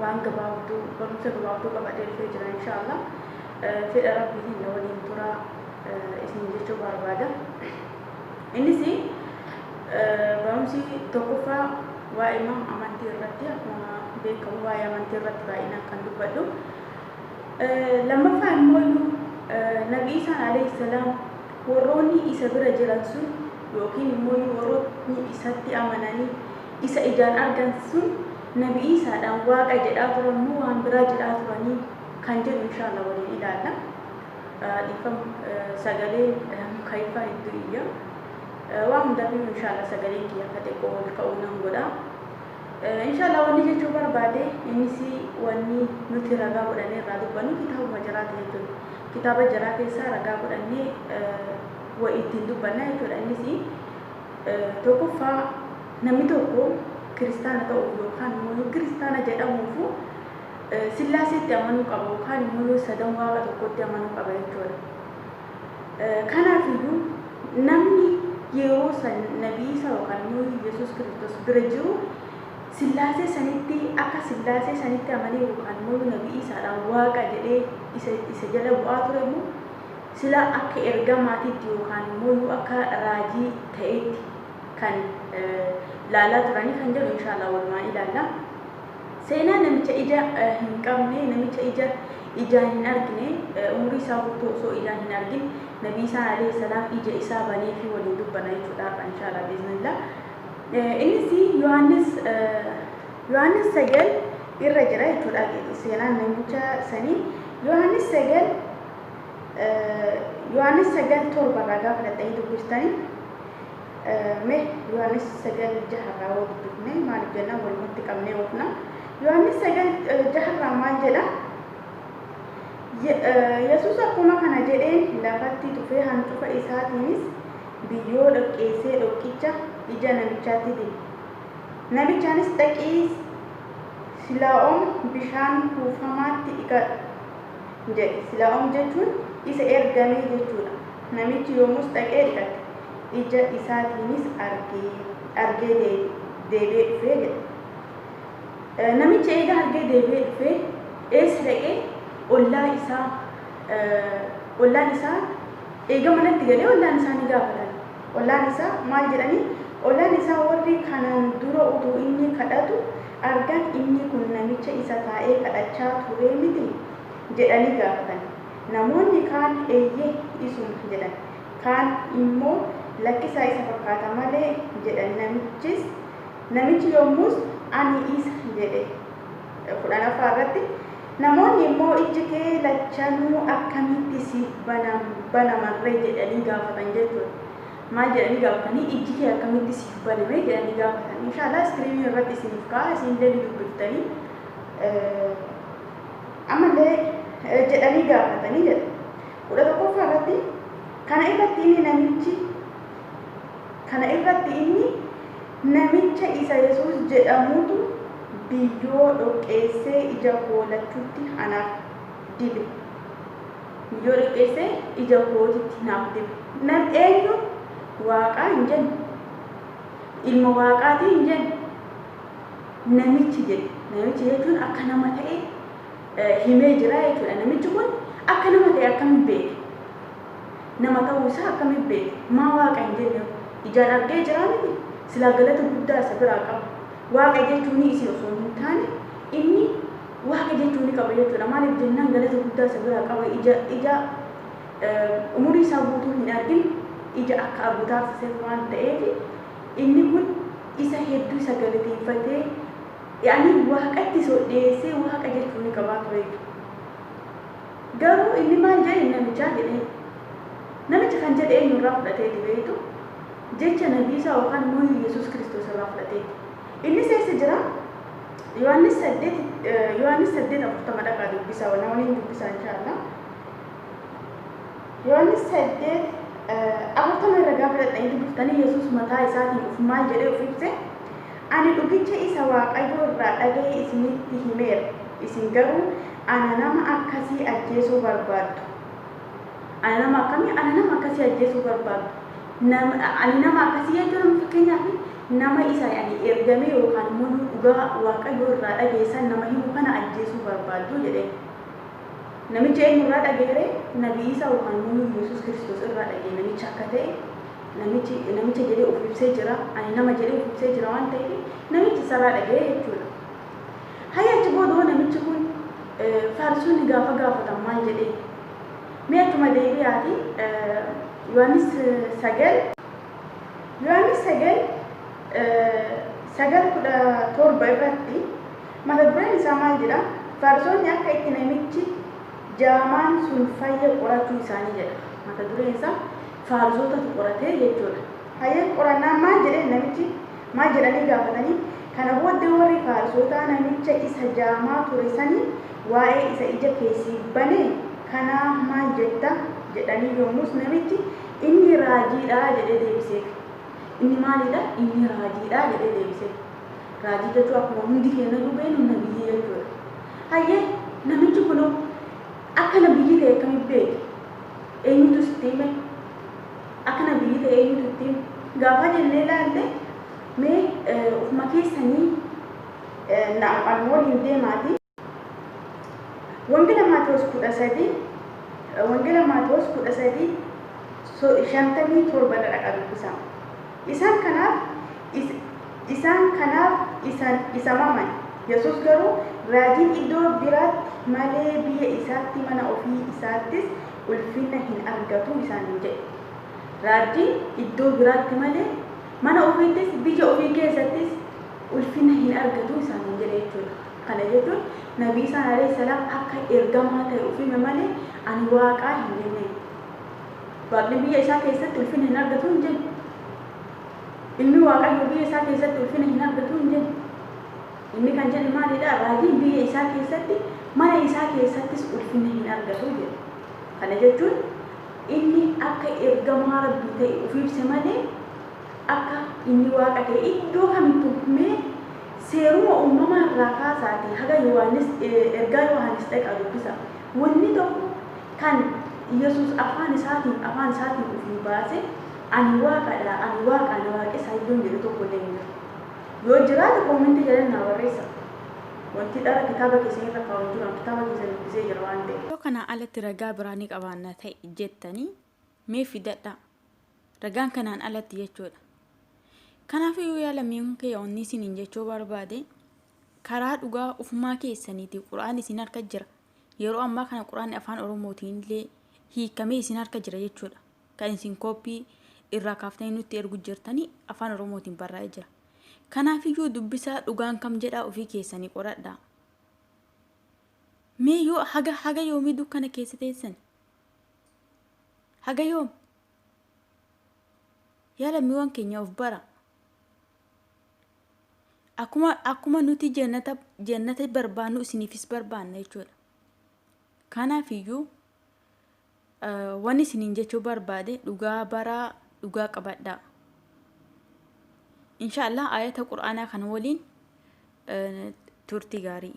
waan gabaabduu barumsa gabaabduu qabadhee dhufee jira inshaallah fedha rabbiitiin na waliin turaa isin jechuu barbaada innis barumsi tokkoffaa waa'ee mam amantii irratti akkuma beekamu waa'ee amantii irratti baay'inaan kan dubbadhu lammaffaa immoo iyyuu nabi isaan alayhi salaam warroonni isa bira jiran sun yookiin immoo warroonni isatti amananii isa ijaan argan sun Nabi Iisaadhaan Waaqa jedhaa turan moo waan biraa jedhaa turanii kan jedhu inshaalla waliin ilaalla. Dhiifama sagaleen mukayyifaa hedduu iyya. Waan hundafiyyuu inshaalla sagaleen kiyya akka xiqqoo ol ka'uu nan godha. Inshaalla wanni jechuu barbaade innis wanni nuti ragaa godhannee irraa dubbannu kitaabuma jaraati jechuudha. Kitaaba jaraa keessaa ragaa godhannee wa ittiin dubbanna jechuudha innis Tokkoffaa, namni tokko Kiristaana ta'uuf yookaan immoo yoo Kiristaana jedhamuuf Sillaaseetti amanuu qaba yookaan immoo yoo sadan waaqa tokkotti amanuu qaba jechuudha. Kanaaf iyyuu namni yeroo san nabii isa yookaan immoo Yesuus Kiristoos bira jiru Sillaasee sanitti akka Sillaasee sanitti amanee yookaan immoo nabii isaadhaan waaqa jedhee isa, isa jala bu'aa ture immoo Sila akka ergamaatitti yookaan immoo akka raajii ta'eetti kan laalaa turanii kan jedhu inshaallah walumaan ilaalla. Seenaa namicha ija hin qabne, namicha ija ijaan hin argine, umurii isaa guutuu osoo ijaan hin argin Nabii Isaan alayhi salaam ija isaa banee fi waliin dubbanna jechuudha har'a inshaallah biiznillah. Innis Yohaannis Yohaannis 9 irra jira jechuudha seenaan namicha sanii Yohaannis 9 Yohaannis 9 7 irraa gaafa dhaxxanii dubbistani me Yohaannis 9 6 irraa hoo dubbifne maaliif jennaan walumatti qabnee oofna. Yohaannis 9 6 irraa maal jedha? Yesuus akkuma kana jedheen lafatti tufee hancufa isaatiinis biyyoo dhoqqeessee dhoqqicha ija namichaatti dibe. Namichaanis dhaqii silaa'oom bishaan kuufamaatti dhiqadhu. jedhe. Sila'om jechuun isa ergamee jechuu dha. Namichi yommus dhaqee dhiqate, ija isaatiinis argee, argee deebi'ee dhufe jedhe. Namichi eega argee deebi'ee dhufee eessa dhaqee? Ollaa isaa, ollaan isaa eega manatti galee ollaan isaa ni gaafatan. Ollaan isaa maal jedhanii? Ollaan isaa warri kanaan dura utuu inni kadhatu argan, Inni kun namicha isa taa'ee kadhachaa turee mitii? jedhanii gaafatan. Namoonni kaan, Eeyyee, isuma jedhan. Kaan immoo, Lakkisaa isa fakkaata malee jedhan. Namichis, namichi yommus, Ani isa jedhe. 10ffaa irratti namoonni immoo, Ijji kee lachanuu akkamitti siif banaman ree? jedhanii gaafatan jechuudha. Maal jedhanii gaafatanii ijji kee akkamitti siif baname jedhanii gaafatan. Inshaallah iskiriinii irratti isiniif ka'a isinillee ni dubbiftanii. Ammallee jedhanii gaafatanii jedha. Kudha tokkoffaa irratti kana irratti inni namichi kana irratti inni namicha isa Yesuus jedhamutu biyyoo dhoqqeessee ija koo lachuutti anaaf dibe. Yoo xiqqeesse ija kootitti naaf dibe. Nan eenyu Waaqaa hin jenne. Ilma Waaqaatii hin jenne. Namichi jedhe. Namichi jechuun akka nama ta'e himee jira jechuudha. Namichi kun akka nama ta'e akkamiin beeke? Nama ta'uu isaa akkamiin beeke? Maa Waaqa hin jenne? Ijaan argee jira miti. Silaa galata guddaa isa biraa qaba. Waaqa jechuun isin osoo hin taane inni Waaqa jechuu ni qaba jechuudha. Maaliif jennaan galata guddaa isa biraa qaba. Ija, ija umurii isaa guutuu hin argin ija akka argu taasiseef waan ta'eef inni kun isa hedduu isa galateeffatee yaani waaqatti isa ol dhiyeessee waaqa jechuu ni qabaa ture. Garuu inni maal jedhe namichaa jedhe. Namichi kan jedhe eenyu irraa fudhateeti beektu? Jecha nabii isaa yookaan immoo Yesuus Kiristoos irraa fudhateeti. Innis eessa jira? Yohaannis 8 Yohaannis 8:40 dhaqaa dubbisa na waliin dubbisa inshaallaa. Yohaannis 8 40 irra gaafa dhaqxanii dubbiftanii Yesuus mataa isaatiin of maal jedhee of ibse ani dhugicha isa Waaqayyoo irraa dhaga'e isinitti himeera isin garuu ana nama akkasii ajjeesuu barbaaddu. Ana nama akkamii? Ana nama akkasii ajjeesuu barbaaddu. Nam- Ani nama akkasii jechuun amma fakkeenyaaf Nama isa ani ergame yookaan immoo nu dhugaa Waaqayyoo irraa dhageessan nama himu kana ajjeesuu barbaaddu? jedheen. Namicha eenyu irraa dhaga'e ree? Nabi Iisaa yookaan immoo nu Yesuus Kiristoos irraa dhaga'e namicha akka ta'e namichi namicha jedhee of ibsee jira. Ani nama jedhee of ibsee jira waan ta'eef namichi isarraa dhaga'e jechuudha. Hayya achi booda hoo namichi kun eh, faarisonni gaafa gaafatan maal jedhee? Mee achuma deebi'aati eh, Yohaannis eh, sagal Yohaannis 9, 9, 17 irratti mata dureen isaa maal jedha? Farisoonni akka itti namichi jaamaan sun fayye qorachuu isaanii jedha. Mata dureen isaa Farisootatu qoratee jechuudha. Hayyee qorannaan maal jedhee namichi maal jedhanii gaafatanii? Kana booddee warri Farisootaa namicha isa jaamaa ture sanii waa'ee isa ija keessii bane kanaa maal jetta? jedhanii yommus namichi Inni raajii dha jedhee deebiseef. Inni maalii dha? Inni raajii dha jedhee deebiseef. Raajii jechuun akkuma hundi keenya iyyuu beeknu nabiyyii jechuudha. Hayyee namichi kun akka nabiyyii ta'e akkamitti beeke? Eenyutu sitti hime? Akka nabiyyii ta'e eenyutu itti hime? Gaafaa jennee ilaalle mee ofuma keessanii na waliin deemaati. Wangeela Maatewos 13, Wangeela Maatewos 13, so- 57 irra dhaqaa dubbisaa. Isaan kanaaf, is, isaan kanaaf isan, isa maman. Yesus garuu, Raajiin iddoo biraatti malee biyya isaatti mana ofii isaattis ulfina hin argatu isaaniin jedhe. Raajiin iddoo biraatti malee mana ofiittis biyya ofii keessattis ulfina hin argatu isaaniin jedhe jechuudha. Kana jechuun Nabi Iisaan aleyh salaam akka ergamaa tahe uf hime malee ani Waaqaa hin jenneen. Waaqni biyya isaa keessatti ulfina hin argatuu hin jenne. Ilmi Waaqayyoo biyya isaa keessatti ulfina hin argatuu hin jenne. Inni kan jedhe maalidha? Raajiin biyya isaa keessatti, mana isaa keessattis ulfina hin argatu jedhe. Kana jechuun inni akka ergamaa Rabbii tahe uf ibse malee, Akka Inni Waaqa ta'e iddoo kamittuu himee, seeruma uumamaa irraa kaasaatii haga Yohaannis, ergaa Yohaannis dhaqaa dubbisaa. Wonni tokko kan Yesuus afaan isaatiin, afaan isaatiin ufii baase, Ani Waaqa dha, ani Waaqaa na waaqessaa iddoon jedhe tokkollee hin jiru. Yoo jiraate koomentii jala naa barreessaa. Wonti dhara kitaaba keessan irra kaa'u hin jiru, ani kitaaba keessan dubbisee jira waan ta'eef. Yoo kanaa alatti ragaa biraa ni qabaanna ta'e jettanii, mee fidadhaa. Ragaan kanaan alatti jechuudha. Kanaafuu yaa lammiiwwan kiyya wanni isiniin jechuu barbaade karaa dhugaa ufumaa keessaniitii quraan isin harka jira. Yeroo ammaa kana quraanni afaan Oromootiin illee hiikamee isin harka jira jechuudha. Kan isin kooppii irraa kaaftanii nutti ergu jirtanii afaan Oromootiin barraa'ee jira. Kanaafiyyuu dubbisaa dhugaan kam jedhaa ofii keessanii qoradhaa. Mee yoo haga haga yoomii dukkana keessa teessan haga yoom yaa lammiiwwan keenya of bara akkuma akkuma nuti jannata jannata barbaannu isiniifis barbaanna jechuudha kanaaf iyyuu eh, waan isiniin jechuu barbaade dhugaa baraa dhugaa qabadhaa inshaallah ayata qur'aanaa kana waliin eh, turtii gaarii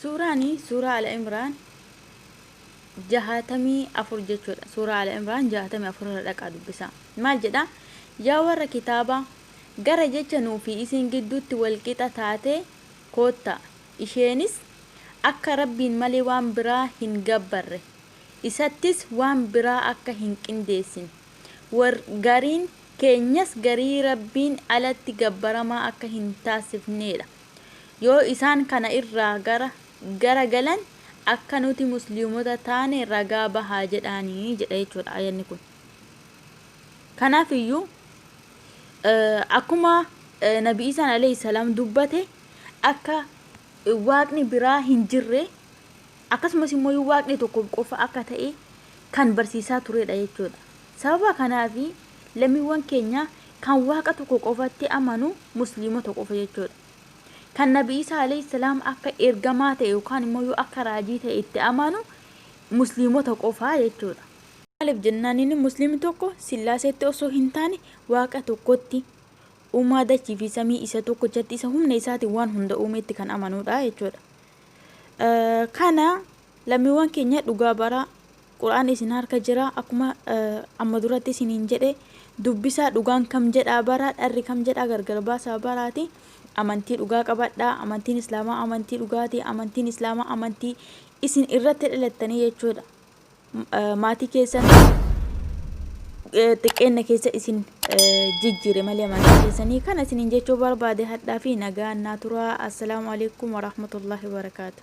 Suuraan suuraa Al-Imraan 64 jechuudha. Suuraa Al-Imraan 64 irra dhaqaa dubbisaa. Maal jedha? Yaa warra kitaabaa! Gara jecha nuu fi isin gidduutti wal qixa taatee koottaa. Isheenis, Akka Rabbiin malee waan biraa hin gabbarre. Isattis waan biraa akka hin qindeessine. War, gariin, keenyas garii Rabbiin alatti gabbaramaa akka hin taasifneedha. Yoo isaan kana irraa gara gara galan akka nuti musliimota taane ragaa bahaa jedhaani jedha jechuudha aayanni kun. Kanaaf iyyuu akkuma Nabi Iisaan alayhi salaam dubbate akka waaqni biraa hin jirre Akkasumas immoo Waaqni tokko qofa akka ta'e kan barsiisaa turedha jechuudha. Sababa kanaafi lammiiwwan keenya kan Waaqa tokko qofatti amanu Musliimota qofa jechuudha. Kan Nabi Iisaa Aleyh Salaam akka ergamaa ta'e yookaan immoo akka raajii ta'e itti amanu Musliimota qofa jechuudha. Maaliif jennaan inni Musliimni tokko Sillaaseetti osoo hin taane Waaqa tokkotti, Uumaa dachii fi samii isa tokkochatti isa humna isaatiin waan hunda uumetti kan amanudha jechuudha. Kana lammiiwwan keenya dhugaa baraa Qur'aanni isin harka jira akkuma amma duratti isiniin jedhe dubbisaa dhugaan kam jedhaa baraa dharri kam jedhaa gargar baasaa baraati amantii dhugaa qabadhaa amantiin islaamaa amantii dhugaati amantiin islaamaa amantii isin irratti dhalattanii jechuudha maatii keessan xiqqeenna keessa isin jijjiire malee maatii keessanii kana isiniin jechuu barbaade hadhaa fi nagaa annaa turaa assalaamu alaikum warahmatullahi wabarakaatu